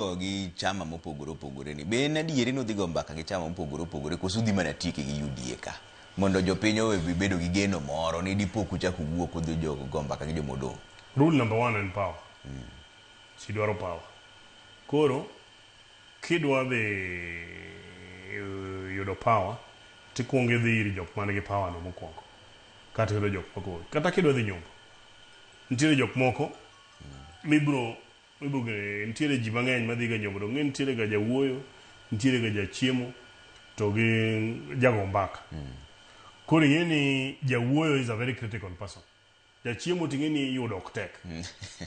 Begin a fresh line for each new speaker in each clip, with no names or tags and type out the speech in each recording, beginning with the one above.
go gi chama mopogore opogore ni be en adieri ni udhi go mbaka gi chama mopogore opogore koso udhi mana tieke gi UDA ka mondo jopiny owe bedo gi geno moro ni dipo kuchak uwuok udhi jo go mbaka gi joma odong'. Rule number one en
power. Ji dwaro power. Koro kidwa dhi eh, yudo power tikwongo idhi ir jok man gi power no mokwongo kata yudo jok moko kata kidwa dhi nyombo nitiere jok moko mibro Ibugene, nitiere ji mang'eny madhiga e nyombo, donge ing'e ni nitiere ga jawuoyo, nitiere ga jachiemo to gi jago mbaka. Koro ing'e ni jawuoyo is a very critical person. Jachiemo to ing'e ni yudo ok tek.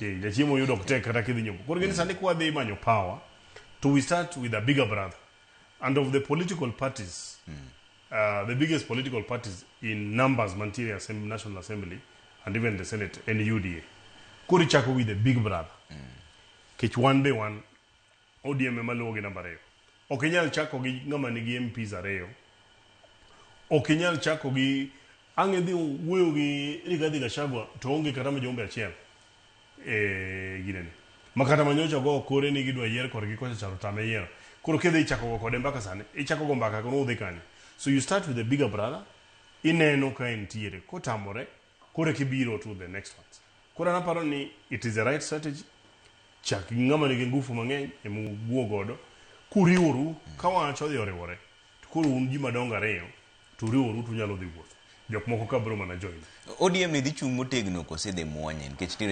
Eh, jachiemo yudo ok tek kata kidhi nyombo. Koro ing'e ni sani kwadhi manyo power to we start with a bigger brother. And of the political parties, Uh, the biggest political parties in numbers mantiere assembly, National Assembly and even the Senate en UDA. Koro ichako with the big brother. Kech wan be wan ODM ema luwo gi namba ariyo. Ok inyal chako gi ng'ama nigi MPs ariyo. Ok inyal chako gi ang' idhi wuoyo gi Rigathi Gachagua to onge kata mjumbe achiel. e ginene makata manyocha go kore ni gidwa yier korgi kocha charo tame yiero koro kidhi ichako go kode mbaka sani ichako go mbaka kono udhi kanye so you start with the bigger brother ineno ka entiere kotamore kore kibiro to the next ones koro naparo ni it is the right strategy chak gi ng'ama nigi ngufu mang'eny emuwuo godo kuriworu ka wach odhi oriwore to koro un ji madongo ariyo to uriworu to unyalo dhi wuoth
jok
moko ka
biro
mana
join
ODM
ne dhi
chung' motegno
kose
dhi mwonye
nikech
nitiere